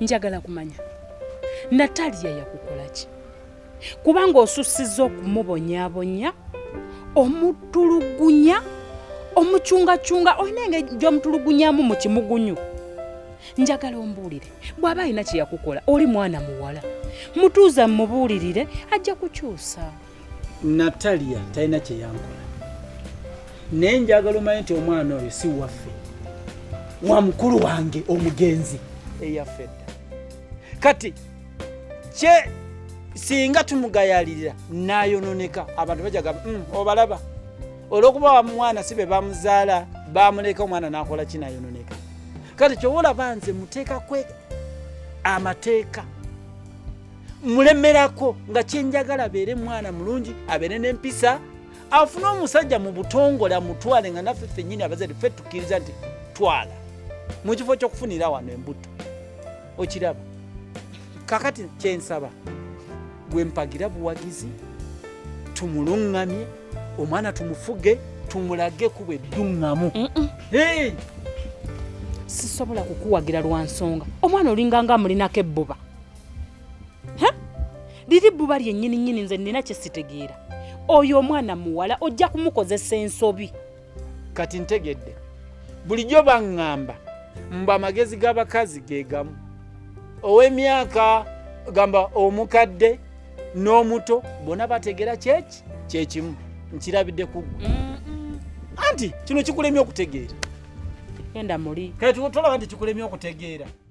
njagala kumanya nataliya yakukolaki kubanga osusiza okumubonyabonya omutulugunya omucungacunga olina engeri gyomutulugunyamu mu kimugunyu njagala ombuulire bw'aba alina kye yakukola oli mwana muwala mutuuza mumubuulirire ajja kukyusa natalia talina kyeyankola naye njagala omanye nti omwana oyo si waffe wa mukulu wange omugenzi eyaffe dda kati kye singa tumugayalirira nayononeka abantu bajaga mm, obalaba olwokuba wamwana si be bamuzaala bamuleka omwana nakola kinayononeka kati kyoba olaba nze muteekakwe amateeka mulemerako nga kyenjagala abeere mwana mulungi abeere n'empisa afune omusajja mu butongole amutwale nga naffe ffennyini abazadde ffe tukkiriza nti twala mu kifo ky'okufunira wano embuto okiraba kakati kyensaba gwe mpagira buwagizi tumuluŋŋamye omwana tumufuge tumulage kuba edduŋŋamu sisobola kukuwagira lwa nsonga omwana olinganga amulinako ebbuba liri buba lyennyini nyini nze nina kyesitegeera oyo omwana muwala ojja kumukozesa ensobi kati ntegedde bulijjo baŋŋamba mbu amagezi g'abakazi ge gamu ow'emyaka gamba omukadde n'omuto bona bategeera kyeki kyekimu nkirabidde kuggwe anti kino kikulemye okutegeera enda muli kati tolaba nti kikulemye okutegeera